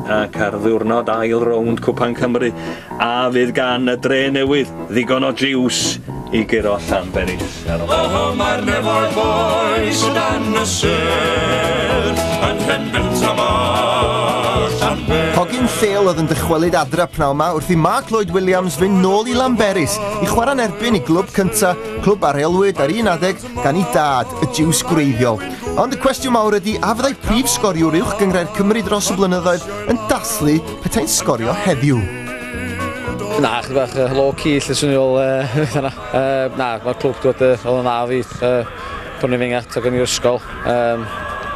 ac ar ddiwrnod ail rownd Cwpan Cymru a fydd gan y dre newydd ddigon o jiws i guro Llanberis. Oho mae'r nefoedd boes o dan y sel yn Llanberis am Llanberis. Hogyn Sale oedd yn dychwelyd adra pnaw yma wrth i Mark Lloyd Williams fynd nôl i Lanberis i chwarae'n erbyn i glwb cyntaf, clwb a reolwyd ar un adeg gan ei dad, y Jiws gwreiddiol. Ond y cwestiwn mawr ydy, a fyddai prif sgoriwr uwch gyngrair Cymru dros y blynyddoedd yn dathlu petai'n sgorio heddiw? Na, chi bach uh, low-key, lle swn i'n ôl, na, na, mae'r clwb dod uh, oedd yn dda fi, uh, pan i'n fengat ac yn i'r ysgol, um,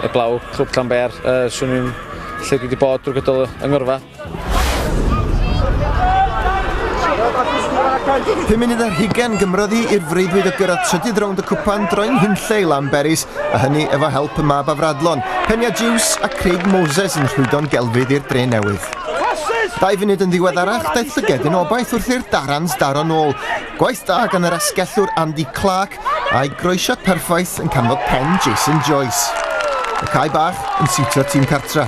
y blaw, clwb Llanber, uh, swn i'n lle dwi wedi bod drwy gydol yng Ngyrfa. Pum munud ar hugen gymrodd i i'r freuddwyd o gyrraedd trydydd rownd y cwpan droi'n hunlle i Lamberis, a hynny efo help y mab afradlon, Penia Jews a Craig Moses yn rhwydo'n gelfydd i'r dre newydd. Dau funud yn ddiweddarach, daeth llygedyn obaith wrth i'r Darans daro'n ôl. Gwaith da gan yr asgellwr Andy Clark, A'i groesiad perffaith yn canfod pen Jason Joyce. Y cae bach yn siwtio tîm cartra.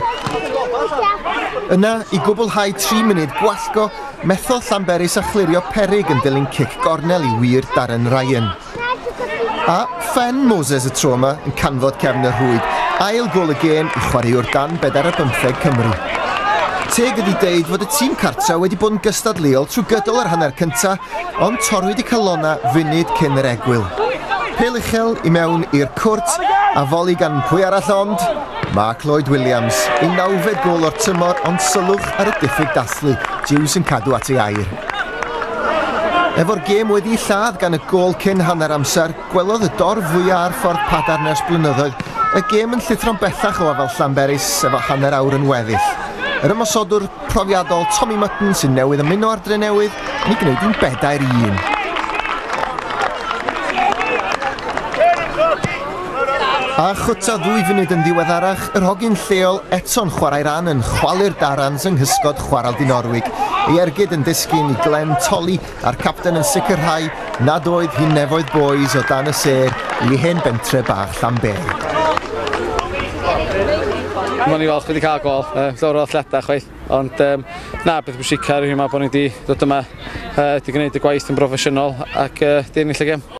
Yna, i gwblhau 3 munud gwallgo, methodd Llanberis a chlirio perig yn dilyn cic gornel i wir Darren Ryan. A phen Moses y tro yma yn canfod cefn y rhwyd, ail gol y gêm i chwaraewr dan bedair a bymtheg Cymru. Teg ydi deud fod y tîm cartra wedi bod yn gystadleuol trwy gydol yr hanner cyntaf ond torrwyd y calonnau funud cyn yr egwyl. Pêl uchel i mewn i'r cwrt a foli gan pwy arall ond Mark Lloyd Williams, ei nawfed gol o'r tymor ond sylwch ar y diffyg dathlu, Jews yn cadw at ei air. Efo'r gêm wedi ei lladd gan y gol cyn hanner amser, gwelodd y dorf fwyaf ar ffordd Padar nes blynyddoedd y gêm yn llithro'n bellach o afal Llanberis efo hanner awr yn weddill. Yr ymosodwr profiadol Tommy Mutton sy'n newydd ymuno ar Drenewydd yn ei gwneud yn bedair un. A chwta ddwy funud yn ddiweddarach, yr hogyn lleol eto'n chwarae ran yn chwalu'r darans yng nghysgod chwarel Dinorwig. Ei ergyd yn disgyn i Glenn Tolly a'r capten yn sicrhau nad oedd hi'n nefoedd bois o dan y sêr i hen bentre bach Llanberi. Mae'n ni falch wedi cael gol, uh, llawer o athleta chwaith, ond um, na, beth bwysicaf yw yma bod ni wedi dod yma, uh, wedi gwneud y gwaith yn broffesiynol ac uh, di ennill y gem.